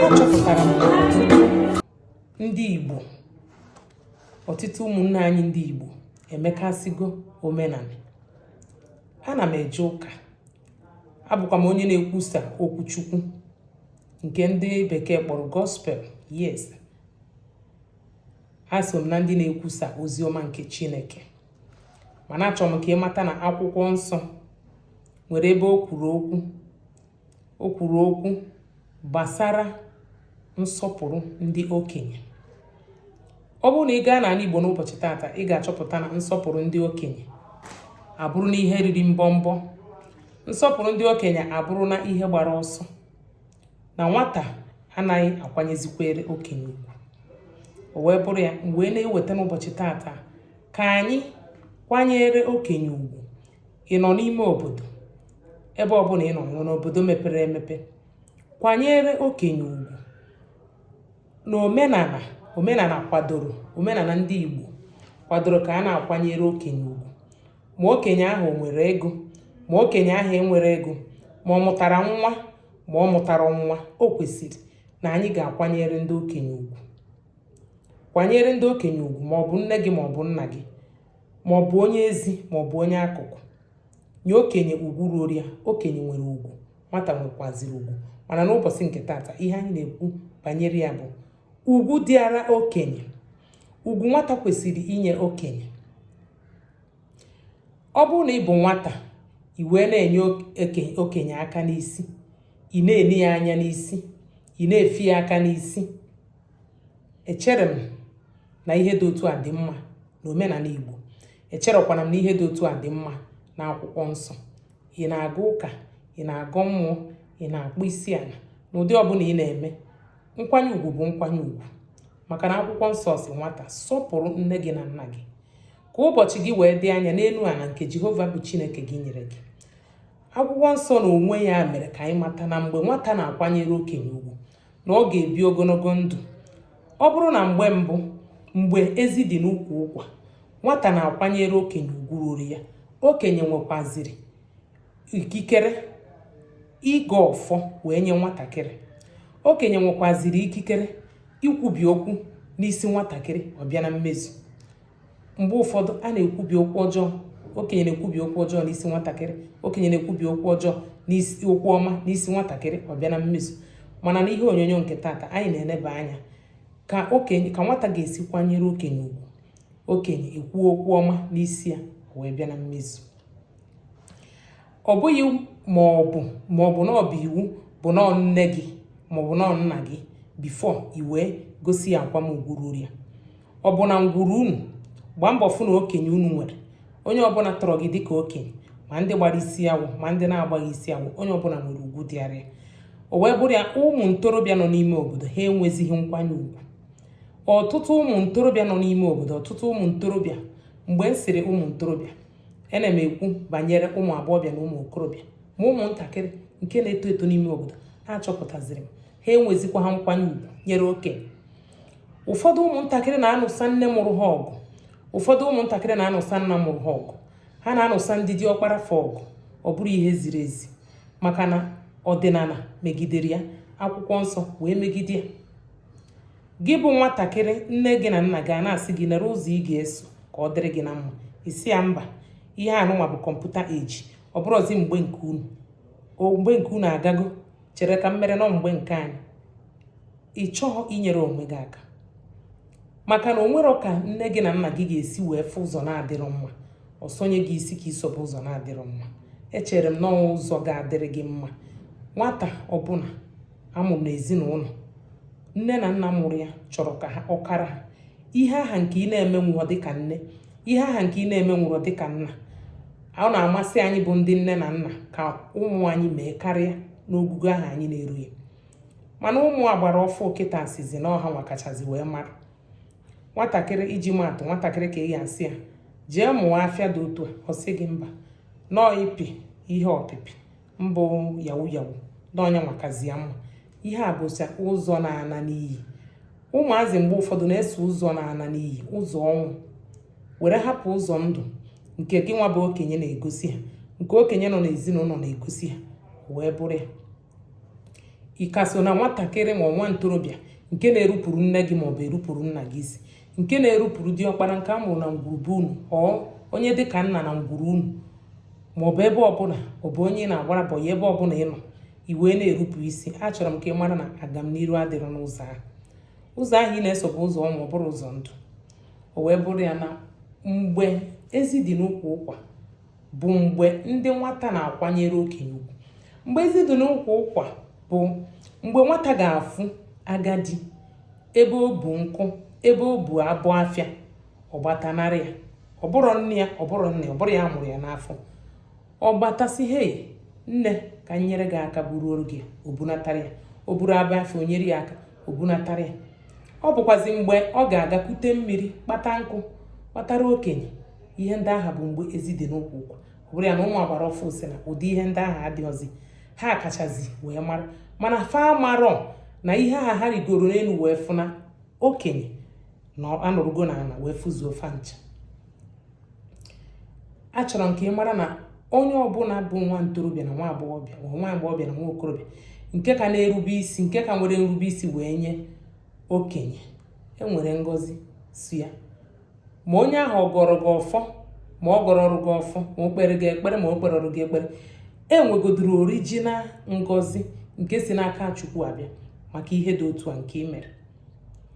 achọpụtara m ndị Igbo ọtụtụ ụmụnne anyị ndị Igbo emekasịgo omenala ana m eje ụka abụkwa m onye na-ekwusa okwu Chukwu nke ndị bekee kpọrọ gospel yes aso m na ndị na-ekwusa ozi ọma nke Chineke mana achọrọ m ka ị mata na akwụkwọ nsọ nwere ebe o kwuru okwu gbasara nsọpụrụ ndị okenye ọ bụrụ na ị gaa n'ala Igbo n'ụbọchị tata ị ga-achọpụta na nsọpụrụ ndị okenye abụrụna ihe riri mbọmbọ nsọpụrụ ndị okenye abụrụna ihe gbara ọsọ na nwata anaghị akwanyezikwere okenye ugwu o wee bụrụ ya wee na-eweta n'ụbọchị tata ka anyị kwanyere okenye ugwu ị nọ n'ime obodo ebe ọbụla ị nọ n'obodo mepere emepe kwanyere okenye ugwu na omenala omenala kwadoro omenala ndị Igbo kwadoro ka a na-akwanyere okenye ugwu ma okenye ahụ nwere ego ma okenye ahụ enwere ego ma ọ mụtara nwa ma ọ mụtara nwa o kwesịrị na anyị ga-akwanyere ndị okenye ugwu kwanyere ndị okenye ugwu ma ọ bụ nne gị ma ọ bụ nna gị ma ọ bụ onye ezi ma ọ bụ onye akụkụ nye okenye ugwu ruoro ya okenye nwere ugwu nwata nwekwaziri ugwu mana n'ụbọchị nke tata ihe anyị na-ekwu banyere ya bụ ugwu dịara okenye ugwu nwata kwesịrị inye okenye ọ bụrụ na ị bụ nwata i wee na-enye okenye aka n'isi ị na-eni ya anya n'isi ị na-efi ya aka n'isi echere m na ihe dị otu a dị mma na omenala Igbo echerekwana m na ihe dị otu a dị mma na akwụkwọ nsọ ị na-aga ụka ị na-agọ mmụọ ị na-akpụ isi ala n'ụdị ọbụla ị na-eme nkwanye ugwu bụ nkwanye ugwu maka na akwụkwọ nsọ sị nwata sọpụrụ nne gị na nna gị ka ụbọchị gị wee dị anya n'elu ala nke Jehova bụ Chineke gị nyere gị akwụkwọ nsọ na onwe ya mere ka anyị mata na mgbe nwata na-akwanyere okenye ugwu na ọ ga-ebi ogologo ndụ ọ bụrụ na mgbe mbụ mgbe ezi dị n'ukwu ụkwa nwata na-akwanyere okenye ugwu ruru ya okenye nwekwaziri ikikere ịgọ ọfọ wee nye nwatakịrị okenye nwekwaziri ikikere ikwubi okwu n'isi nwatakịrị ọ bịa na mmezu mgbe ụfọdụ a na-ekwubi okwu ọjọọ okenye na-ekwubi okwu ọjọọ n'isi nwatakịrị okenye na-ekwubi okwu ọjọọ n'isi okwu ọma n'isi nwatakịrị ọ bịa na mmezu mana n'ihe onyonyo nke tata anyị na-eneba anya ka nwata ga-esi kwanyere okenye ugwu okenye ekwuo okwu ọma n'isi ya o wee bịa na mmezu ọ bụghị ma ọ bụ ma ọ bụ na ọ bụ iwu bụ na nne gị ma ọ bụ na nna gị before i wee gosi ya akwamugwu ruru ya ọ bụ na ngwuru unu gbaa mbọ fụ na okenye unu nwere onye ọbụla tọrọ gị dịka okenye ma ndị gbara isi awọ ma ndị na-agbaghị isi awọ onye ọbụla nwere ugwu dịara ya o wee bụrụ ya ụmụ ntorobịa nọ n'ime obodo ha enwezighị nkwanye ugwu ọtụtụ ụmụ ntorobịa nọ n'ime obodo ọtụtụ ụmụ ntorobịa mgbe m sịrị ụmụ ntorobịa ana m ekwu banyere ụmụ agbọghọbịa na ụmụ okorobịa ma ụmụntakịrị nke na-eto eto n'ime obodo ha achọpụtaziri m ha enwezikwa ha nkwanye ugwu nyere okenye ụfọdụ ụmụntakịrị na-anụsa nne mụrụ ha ọgụ ụfọdụ ụmụntakịrị na-anụsa nna mụrụ ha ọgụ ha na-anụsa ndị diọkpara fa ọgụ ọ bụrọ ihe ziri ezi maka na ọdịnala megidere ya akwụkwọ nsọ wee megide ya gị bụ nwatakịrị nne gị na nna gị a na-asị gị lere ụzọ ị ga-eso ka ọ dịrị gị na mma ị sị ya mba ihe anụnwa bụ computer age ọ bụrọzi mgbe nke unu mgbe nke unu agago chere ka m mere nọ mgbe nke anyị ị chọghị inyere onwe gị aka maka na o nwere ka nne gị na nna gị ga-esi wee fụ ụzọ na-adịrọ mma ọ sọnye gị isi ka i sobe ụzọ na-adịrọ mma echere m na ụzọ ga-adịrị gị mma nwata ọbụla a mụrụ n'ezinụlọ nne na nna mụrụ ya chọrọ ka ọ kara ha ihe aha nke ị na-emenwurọ dịka nne ihe aha nke ị na-emenwurọ dịka nna ọ na-amasị anyị bụ ndị nne na nna ka ụmụ anyị mee karịa n'ogugo aha anyị na-eru ya mana ụmụ agbara ọfụụ kịta sịzị na ọ hanwa kachazi wee mara nwatakịrị iji maatụ nwatakịrị ka ị ya-asị ya jee mụọ afịa dị otu a ọ sị gị mba na ọ ịpị ihe ọpịpị mbụ yahoo yahoo na ọ yanwa kazi ya mma ihe a bụcha ụzọ na-ana n'iyi ụmụazị mgbe ụfọdụ na-eso ụzọ na-ana n'iyi ụzọ ọnwụ were hapụ ụzọ ndụ nke gị nwa bụ okenye na-egosi ha nke okenye nọ n'ezinụlọ na-egosi ha o wee bụrụ ya ị ka so na nwatakịrị ma nwa ntorobịa nke na-erupụrụ nne gị maọbụ erupụrụ nna gị isi nke na-erupụrụ diọkpara nke a mụrụ na ngwuru be unu ọ onye dị ka nna na ngwuru unu ma ọ bụ ebe ọbụla ọ bụ onye ị na-agbara boy ebe ọbụla ị nọ i wee na-erupụ isi achọrọ m ka ị mara na agamniru adịrọ n'ụzọ ahụ ụzọ ahụ ị na-eso bụ ụzọ ọnwụ ọ bụrọ ụzọ ndụ o wee bụrụ ya na mgbe ezi dị n'ukwu ụkwa bụ mgbe ndị nwata na-akwanyere okenye ugwu mgbe ezi dị n'ukwu ụkwa bụ mgbe nwata ga-afụ agadi ebe o bu nkụ ebe o bu abọ afịa ọ gbata nara ya ọ bụrọ nne ya ọ bụrọ nne ọ bụrọ ya mụrụ ya n'afọ ọ gbata sị hei nne ka m nyere gị aka buruoro gị o bunatara ya ọ bụrụ abọ afịa o nyere ya aka o bunatara ya ọ bụkwazi mgbe ọ ga-aga kute mmiri kpata nkụ kpatara okenye ihe ndị aha bụ mgbe ezi dị n'ukwu ụkwa bụrụ ya na ụmụ agbara ọfụ sị na ụdị ihe ndị ahụ adịghịzi ha kachazi wee mara mana fa marọ na ihe ahụ ha rigoro n'elu wee fụ na okenye na anọrụgo na ala wee fụzuo fa ncha achọrọ m ka ị mara na onye ọbụla bụ nwa ntorobịa na nwa agbọghọbịa ma nwa agbọghọbịa na nwa okorobịa nke ka na-erube isi nke ka nwere nrube isi wee nye okenye enwere ngọzi si ya ma onye ahụ ọ gọọrọ gị ọfọ ma ọ gọrọọrọ gị ọfọ ma o kpeere gị ekpere ma o kperọọrọ gị ekpere e nwegodoro orijinal ngọzi nke si n'aka chukwu abịa maka ihe dị otu a nke ị mere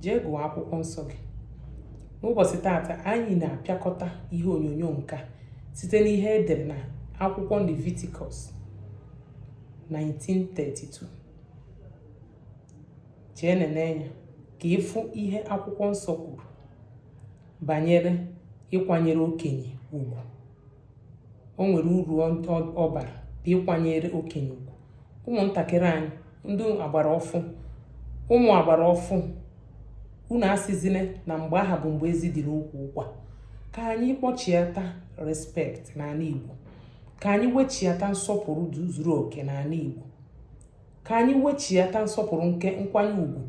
jee gụọ akwụkwọ nsọ gị n'ụbọchị taata anyị na-apịakọta ihe onyonyo nke a site n'ihe e dere na akwụkwọ Leviticus 19:32 jee nene ya ka ị fụ ihe akwụkwọ nsọ kwuru banyere ịkwanyere okenye ugwu o nwere uru ọ bara bụ ịkwanyere okenye ugwu ụmụntakịrị anyị ndị agbara ọfụ ụmụ agbara ọfụ unu asịzine na mgbe ahụ bụ mgbe ezi dịrị n'ukwu ụkwa ka anyị kpọchiata respect n'ala Igbo ka anyị wechiata nsọpụrụ zuru oke n'ala Igbo ka anyị wechiata nsọpụrụ nke nkwanye ugwu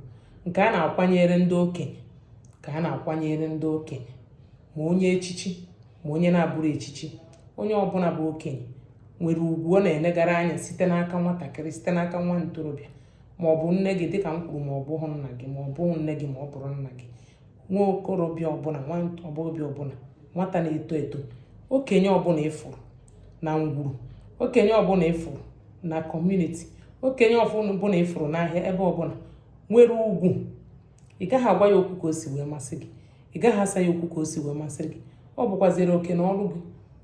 nke a na-akwanyere ndị okenye nke a na-akwanyere ndị okenye ma onye echichi ma onye na-abụrọ echichi onye ọbụla bụ okenye nwere ugwu ọ na-enegara anya site n'aka nwatakịrị site n'aka nwa ntorobịa ma ọ bụ nne gị dịka m kwuru ma ọ bụghị nna gị ma ọ bụghị nne gị ma ọ bụrọ nna gị nwa okorobịa ọbụla nwa agbọghọbịa ọbụla nwata na-eto eto okenye ọbụla ị fụrụ na ngwuru okenye ọbụla ị fụrụ na community okenye ọbụla ị fụrụ n'ahịa ebe ọbụla nwere ugwu ị gaghị agwa ya okwu ka o si wee masị gị ị gaghị asa ya okwu ka o si wee masị gị ọ bụkwaziri oke na ọrụ gị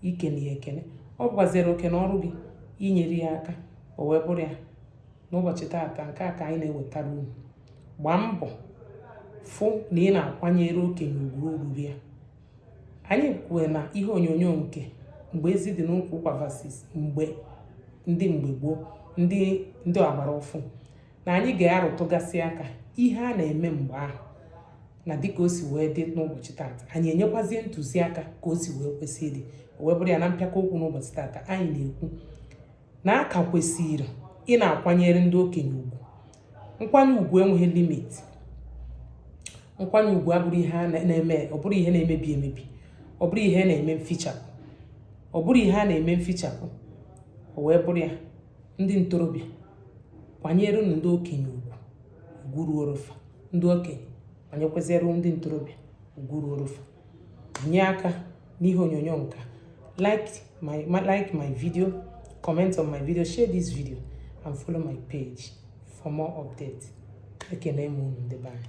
ikene ya ekene ọ bụkwaziri oke na ọrụ gị inyere ya aka o wee bụrụ ya n'ụbọchị taata nke a ka anyị na-ewetara unu gbaa mbọ fụ na ị na-akwanyere okenye ugwu ugwu ruuru ya anyị kwue na ihe onyonyo nke mgbe ezi dị n'ukwu ụkwa versus mgbe ndị mgbe gboo ndị ndị agbara ọfụ na anyị ga-arụtụgasị aka ihe a na-eme mgbe ahụ na dịka o si wee dị n'ụbọchị taata anyị enyekwazie ntụziaka ka o si wee kwesị ịdị o wee bụrụ ya na mpịaka okwu n'ụbọchị taata anyị na-ekwu na a ka kwesịrị ị na-akwanyere ndị okenye ugwu nkwanye ugwu enweghị limit nkwanye ugwu abụrọ ihe a na-eme ọ bụrọ ihe na-emebi emebi ọ bụrọ ihe na-eme mfichapụ ọ bụrọ ihe a na-eme mfichapụ o wee bụrụ ya ndị ntorobịa kwanyerenụ ndị okenye ugwu ugwu ruuru fa ndị okenye kwanyekwaziere ndị ntorobịa ugwu ruuru fa nye aka n'ihe onyonyo nka like my video comment on my video share this video and follow my page for more updates ekene m unu ndị be anyị